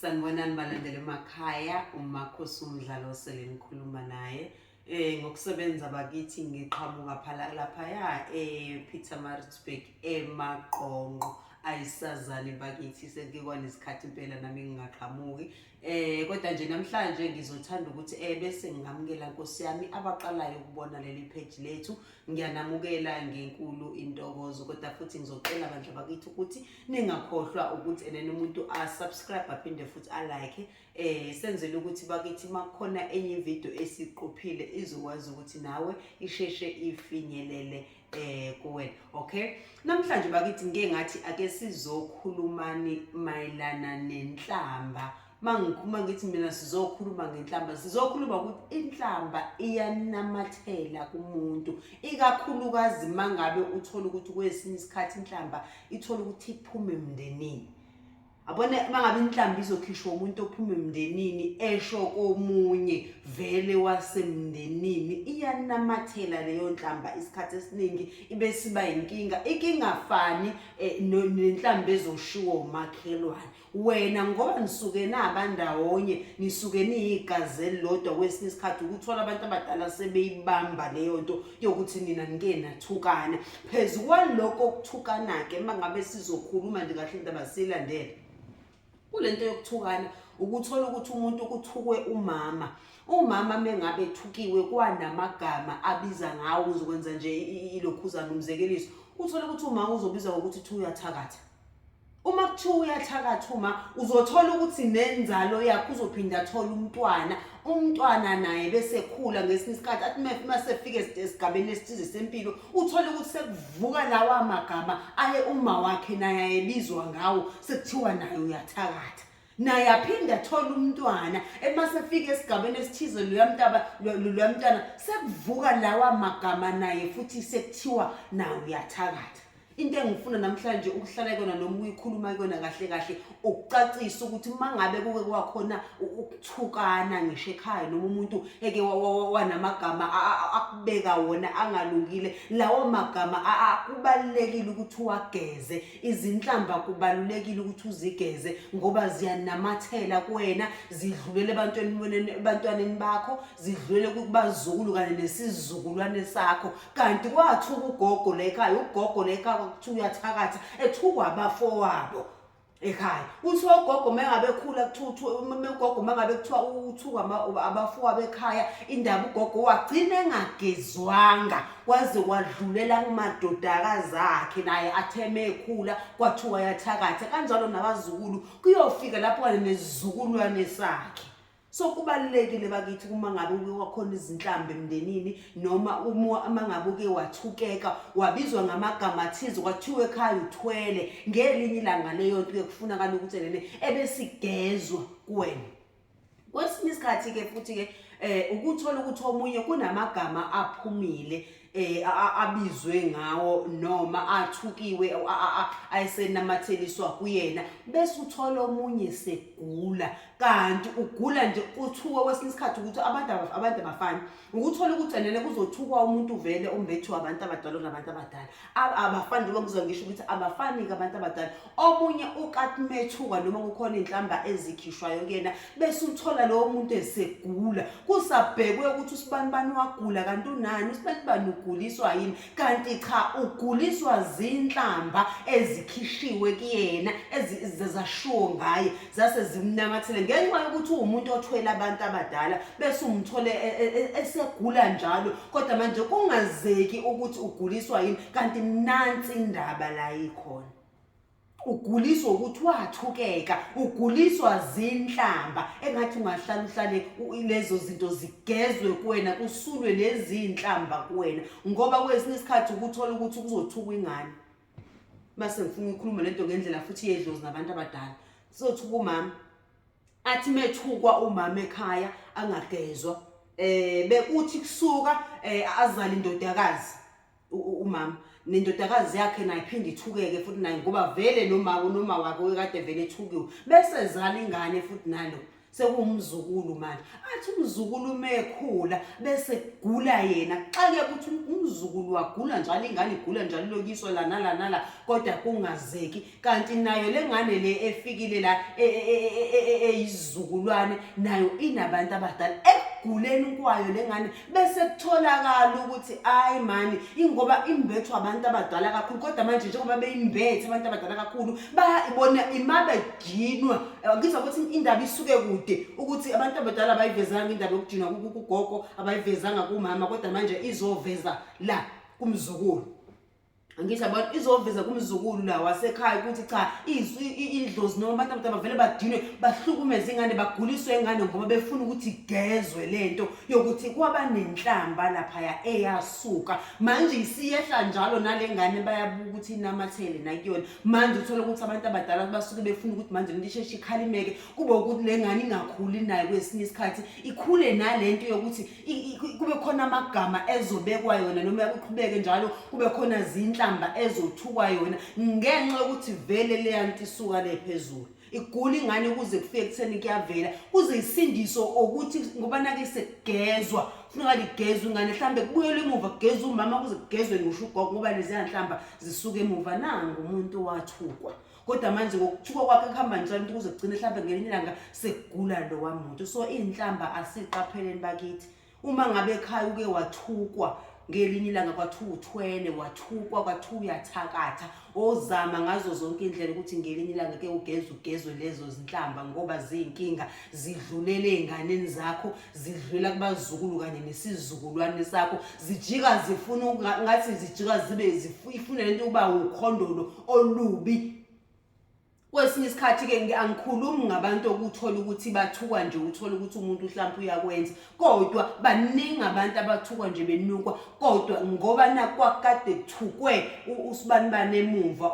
Sanibonani balandele emakhaya umakhosi umdlalo osele ngikhuluma naye eh ngokusebenza bakithi ngiqhamuka phala laphaya ePeter Maritzburg emaqonqo ayisazani bakithi sengikwanesikhathi impela nami ngingaqhamuki eh kodwa nje namhlanje ngizothanda ukuthi eh bese ngingamukela Nkosi yami abaqalayo ukubona leli page lethu ngiyanamukela ngenkulu intokozo kodwa futhi ngizocela bandla bakithi ukuthi ningakhohlwa ukuthi enene umuntu asubscribe aphinde futhi alike eh senzele ukuthi bakithi makukhona enye video esiqophile izokwazi ukuthi nawe isheshe ifinyelele eh kuwena okay namhlanje bakithi ngeke ngathi ake sizokhulumani mayelana nenhlamba uma ngikhuluma ngithi mina sizokhuluma ngenhlamba sizokhuluma ukuthi inhlamba iyanamathela kumuntu ikakhulukazi uma ngabe uthole ukuthi kwesinye isikhathi inhlamba ithole ukuthi iphume emndenini abone uma ngabe inhlamba izokhishwa umuntu ophume emndenini esho komunye vele wasemndenini iyanamathela leyo nhlamba isikhathi esiningi ibe siba yinkinga ikingafani eh, nenhlamba ezoshiwo umakhelwane wena ngoba nisuke naba ndawonye nisuke niyigazi elilodwa kwesinye isikhathi ukuthola abantu abadala sebeyibamba leyo nto yokuthi nina nike nathukana phezu kwalokho kuthukana-ke uma ngabe sizokhuluma nje kahle indaba siyilandele kule nto yokuthukana ukuthola ukuthi umuntu kuthukwe umama umama mengabe ethukiwe kwanamagama abiza ngawo uzokwenza nje ilokhuzana umzekeliso uthole ukuthi umama uzobizwa ngokuthi thi uyathakatha uma kuthiwa uyathakatha uma uzothola ukuthi nenzalo yakho uzophinde athole umntwana umntwana naye bese khula ngesinye isikhathi athi uma sefike esigabeni esithize sempilo uthole ukuthi sekuvuka lawa magama aye uma wakhe naye ayebizwa ngawo sekuthiwa naye uyathakatha naye aphinde athole umntwana uma sefika esigabeni esithize luyamntaba luyamntana sekuvuka lawa magama naye futhi sekuthiwa nawe uyathakatha into engifuna namhlanje ukuhlala kuyona noma uyikhuluma kuyona kahle kahle ukucacisa ukuthi uma ngabe kuke kwakhona ukuthukana ngisho ekhaya noma umuntu eke wanamagama akubeka wona angalungile lawo magama kubalulekile ukuthi uwageze Izinhlamba kubalulekile ukuthi uzigeze ngoba ziyanamathela kuwena zidlulele ebantwaneni ebantwaneni bakho zidlulele kubazukulu kanye nesizukulwane sakho kanti kwathuka ugogo la ekhaya ugogo la ekhaya kuthiwa uyathakatha ethukwa abafowabo ekhaya uthi ogogo mengabe khula kuthiwa ugogo mengabe kuthiwa uthukwa abafowabo ekhaya indaba ugogo wagcina engagezwanga waze wadlulela kumadodakazi akhe naye atheme ekhula kwathiwa yathakatha kanjalo nabazukulu kuyofika lapho kanye nesizukulwane sakhe so kubalulekile bakithi uma ngabe uke wakhona izinhlamba emndenini noma uma uma ngabe uke wathukeka wabizwa ngamagama athize kwathiwa ekhaya uthwele ngelinye ilanga leyo nto uye kufunakala ukuthi nene ebesigezwa kuwena kwesinye isikhathi-ke futhi-ke um ukuthola ukuthi omunye kunamagama aphumile eh abizwe ngawo noma athukiwe ayesenamatheliswa kuyena bese uthola omunye segula kanti ugula nje kuthiwa kwesinye isikhathi ukuthi abantu abantu abafani ukuthola ukuthi anene kuzothukwa umuntu vele ombethiwe abantu abadala onabantu abadala abafani njengoba ngizwa ngisho ukuthi abafani-ke abantu abadala omunye ukathi methuka noma kukhona iy'nhlamba ezikhishwayo kuyena bese uthola lowo muntu esegula kusabhekwe ukuthi usibani bani wagula kanti unani usibani bani uguliswa yini kanti cha uguliswa zinhlamba ezikhishiwe kuyena ezizashiwo ngaye zase zimnamathele ngenxa yokuthi uwumuntu othwele abantu abadala bese umthole e, e, e, esegula njalo kodwa manje kungazeki ukuthi uguliswa yini kanti mnansi indaba la ikhona uguliswa ukuthi wathukeka uguliswa zinhlamba engathi ungahlala uhlale lezo zinto zigezwe kuwena kusulwe lezi zinhlamba kuwena ngoba kwesinye isikhathi ukuthola ukuthi kuzothuka ingane base ngifuna ukukhuluma lento ngendlela futhi yedlozi nabantu abadala sothi kumama athi methukwa umama ekhaya angagezwa eh bekuthi kusuka eh, azali indodakazi umama nendodakazi yakhe naye phinde ithukeke futhi naye ngoba vele nomama nomawakhe okade vele ethukiwe bese zala ingane futhi nalo sekuwumzukulu manje athi umzukulu uma ekhula bese kugula yena xake ukuthi umzukulu wagula njalo ingane igula njalo lokiswa lana lana la kodwa kungazeki kanti nayo le ngane le efikile la e, e, e, eyizukulwane nayo inabantu abadala ekuguleni kwayo le ngane bese kutholakala ukuthi ayi mani ingoba imbethwa abantu abadala kakhulu kodwa manje njengoba beyimbethe abantu abadala kakhulu bayibona imaba idinwa ngizwa ukuthi indaba isuke kude ukuthi abantu abadala abayivezanga indaba yokudinwa kugogo abayivezanga kumama kodwa manje izoveza la kumzukulu ngisho abantu izoveza kumzukulu la wasekhaya ukuthi cha idlozi noma abantu abadala bavele badinwe bahlukumeze ingane baguliswe ingane ngoba befuna ukuthi igezwe lento yokuthi kwaba nenhlamba laphaya eyasuka manje isiyehla njalo nale ngane bayabuka ukuthi inamathele nakuyona manje uthole ukuthi abantu abadala basuke befuna ukuthi manje lento isheshe ikhalimeke kube ukuthi le ngane ingakhuli nayo kwesinye isikhathi ikhule nalento yokuthi kube khona amagama ezobekwa yona noma kuqhubeke njalo kube khona zinhlamba ezothukwa yona ngenxa yokuthi vele leya nto isuka le phezulu igula ingane kuze kufike kutheni kuyavela kuze isindiso ukuthi ngoba nake sekugezwa funeka ligezwe ingane mhlawumbe kubuyele emuva kugezwe umama kuze kugezwe ngisho ugogo ngoba leziyanhlamba zisuke emuva nangu umuntu wathukwa kodwa manje ngokuthuka kwakhe kuhamba njalo into kuze kugcine mhlawumbe ngelinye ilanga sekugula lowa muntu so iy'nhlamba asiqapheleni bakithi uma ngabe ekhaya uke wathukwa ngelinye ilanga kwathiwa uthwele wathukwa kwathiwa uyathakatha ozama ngazo zonke indlela ukuthi ngelinye ilanga ke ugeze ugezwe lezo zinhlamba ngoba ziyinkinga zidlulele ey'nganeni zakho zidlula kubazukulu kanye nesizukulwane sakho zijika zifuna ngathi zijika zibe ifuna lento ukuba ukhondolo olubi kwesinye isikhathi ke angikhulumi ngabantu okuthola ukuthi bathukwa nje uthola ukuthi umuntu mhlawumbe uyakwenza kodwa baningi abantu abathukwa nje benukwa kodwa ngoba nakwakade kuthukwe usibani bane emuva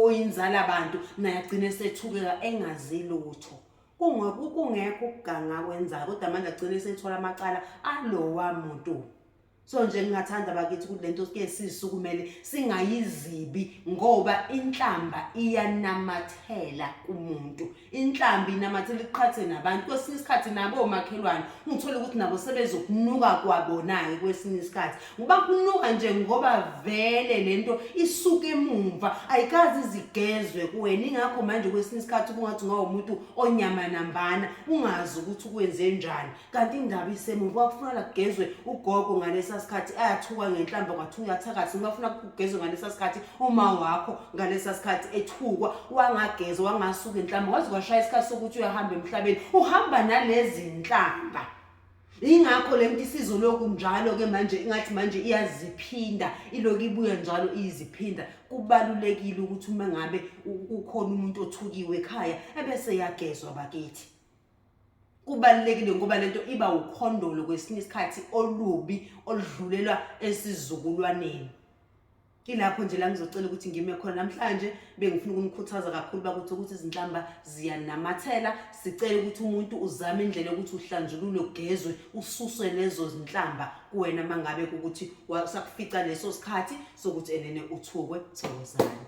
oyinzala abantu naye agcine sethukeka engazi lutho kungekho ukuganga akwenzayo kodwa manje agcine esethola amacala alowa muntu so nje ngingathanda bakithi ukuthi lento ke sisukumele singayizibi ngoba inhlamba iyanamathela kumuntu inhlamba inamathela iqhathe nabantu kwesinye isikhathi nabo omakhelwane ungithola ukuthi nabo sebezokunuka kwabonayo kwesinye isikhathi uba kunuka nje ngoba vele le nto isuke emumva ayikazi izigezwe kuwena ingakho manje kwesinye isikhathi kungathi ungawumuntu onyama nambana ungazi ukuthi ukwenze njani kanti indaba isemumva kwakufunala kugezwe ugogo ngalesa sikhathi ayathuka ngenhlamba kwathuka uyathakathi ngibafuna kugezwe ngalesa sikhathi uma wakho ngalesa sikhathi ethukwa wangagezwa wangasuka enhlamba wazi kwashaya isikhathi sokuthi uyahamba emhlabeni uhamba nalezi nhlamba Ingakho le nto isizoloku njalo-ke manje ingathi manje iyaziphinda iloku ibuya njalo iyiziphinda kubalulekile ukuthi uma ngabe ukhona umuntu othukiwe ekhaya ebese yagezwa bakithi kubalulekile ngoba lento iba ukhondolo kwesinye isikhathi olubi oludlulelwa esizukulwaneni Ilapho nje la ngizocela ukuthi ngime khona namhlanje bengifuna ukunikhuthaza kakhulu bakuthi ukuthi izinhlamba ziyanamathela sicela ukuthi umuntu uzame indlela yokuthi uhlanjulule ugezwe ususwe lezo zinhlamba kuwena mangabe ukuthi sakufica leso sikhathi sokuthi enene uthukwe thokozani